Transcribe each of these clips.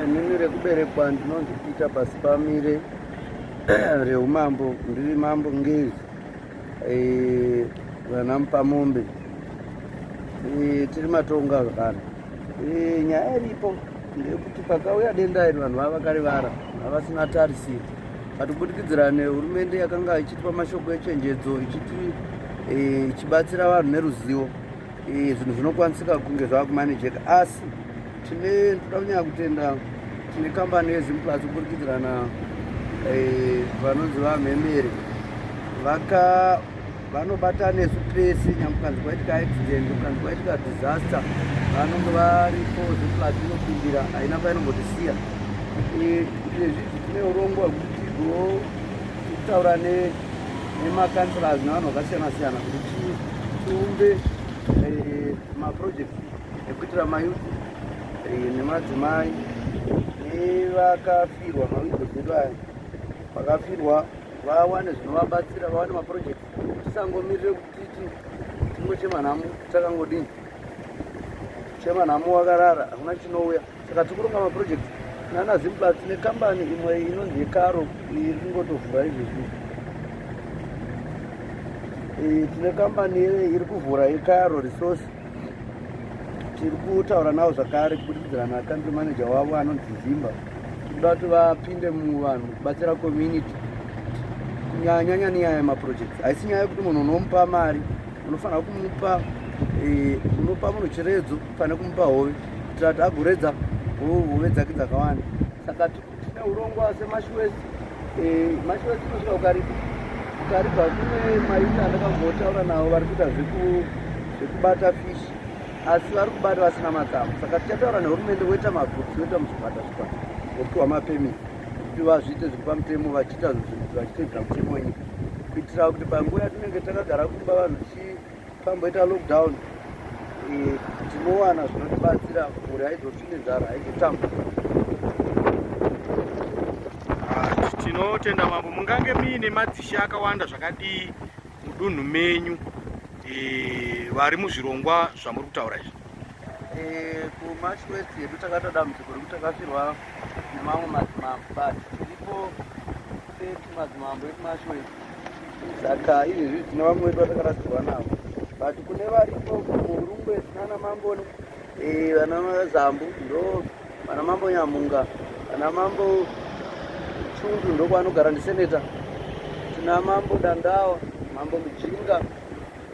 Inini rekuberekwa ndinonzi Peter Pasipamire reumambo ndiri mambo ngezi eh, vana mupamombe eh, tiri matonga zvakana eh, nyaya iripo ndeyekuti pakauya denda iri vanhu vava vakarivara havasina tarisiro katibudikidzira nehurumende yakanga ichitipa mashoko echenjedzo ichiti ichibatsira vanhu neruzivo Eh, zvinhu zvinokwanisika kunge zvava kumanejeka asi tine toda kunyanya kutenda tine kambani yezimplus kupurikidzirana eh, vanonzi vamhemeri vaka vanobata nesu pese nyangwe kanzi kwaitika accident kanzi kwaitika disaster vanonge varipo zimplus inopindira haina painombotisiya eh, izvezvi tine urongwa hwekuti go kutaura ne nemakanslas nevanhu vakasiyana siyana kuti tiumbe eh, maproject ekuitira mayuth eh, nemadzimai nevakafirwa mawidows edu aya vakafirwa vawane zvinovabatsira vawane maproject tisangomirire kuti titi tingochema nhamo takangodini chema nhamo wakarara hakuna chinouya saka tiri kuronga maproject nana zimblas nekambani imwe inonzi yekaro iri kungotovhura izvezvi eh, tine kambani iri kuvhura yekaro resource tiri kutaura navo zvakare kubudikidza nacountry manager wavo anonzi zimba tikuda kuti vapinde muvanhu kubatsira community kunyanyanya nenyaya yemaprojects haisi nyaya yekuti munhu unomupa mari unofanira kumupa eh, unopa munhu chiredzo pane kumupa hove kuitira kuti agoredza hove dzake dzakawanda saka tine urongwa semashuwesi eh, mashuwesi inosvika ukaripa ukaripa kune maita andakambotaura navo vari kuita zvekubata fish asi vari kubata vasina matsamo saka tichataura nehurumende voita magroups voita muzvipata zvipata vopiwa mapemiti kuti vazviite zviri pamutemo vachiita zvitedzera mutemo wenyika kuitira kuti panguva yatinenge takagara kumba vanhu tichii Tamboita lockdown eh, tinowana zvinotibatsira mhuri haizotsvi nenzara haizotamba. Ah, tinotenda mambo, mungange muine madzishe akawanda zvakadii mudunhu menyu eh, vari muzvirongwa zvamuri kutaura izvi? Eh, kumarch west yedu takatoda muziko rekuti takafirwa nemamwe madzimambo but tiripo madzimambo ekumasho ese saka izvezvi tine vamwe vedu vatakarasikirwa navo but kune varipo kurungwe tinana mambo eh, vana zambu ndo vana mambo nyamunga vana mambo chundu ndokwanogara ndiseneta tina mambo dandawa mambo mujinga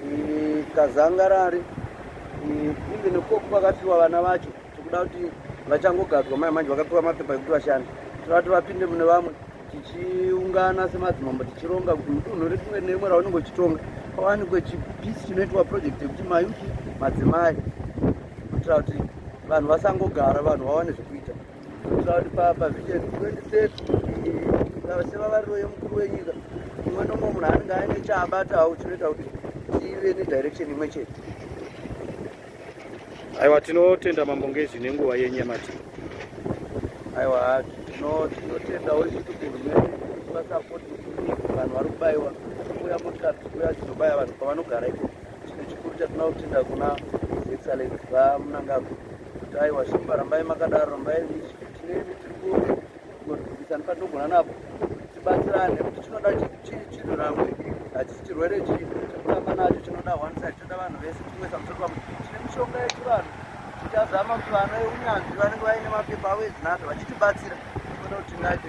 eh, kazangarari eh, imbe nekukoku kwakafiwa vana vacho tikuda kuti vachangogadzwa mai manje vakapiwa mapepa ekuti vashande tivati vapinde mune vamwe tichiungana semadzimambo tichironga kuti mudunhu retumwe nerimwe raunenge uchitonga pawanikwe chipisi chinoitwa project yekuti mayuti madzimai kuitira kuti vanhu vasangogara vanhu vawane zvekuita kuitira kuti pavision 2030 sevavariro yemukuru wenyika umwe nomwe munhu anenge aine chaabatawo chinoita kuti tive nedirection imwe chete aiwa tinotenda mambo ngezvi nenguva yenyamati aiwa tinotendawo isuti hurumende vasapoti vanhu vari kubaiwa kuuya motikari dzikuya dzinobaya vanhu pavanogara iko chine chikuru chatinoda kutenda kuna excellency vamunangagwa kuti aiwa shumba rambai makadaro rambai tinemi tiri kuona kugorudzisana patinogona napo tibatsirane kuti chinoda chinhu ramwe hachisi chirwere chii chekutamba nacho chinoda one side chinoda vanhu vese chimwe samusoro pakuti tine mishonga yechivanhu tichazama kuti vana veunyanzvi vanenge vaine mapepa avo ezvinazvo vachitibatsira kuona kuti tingaite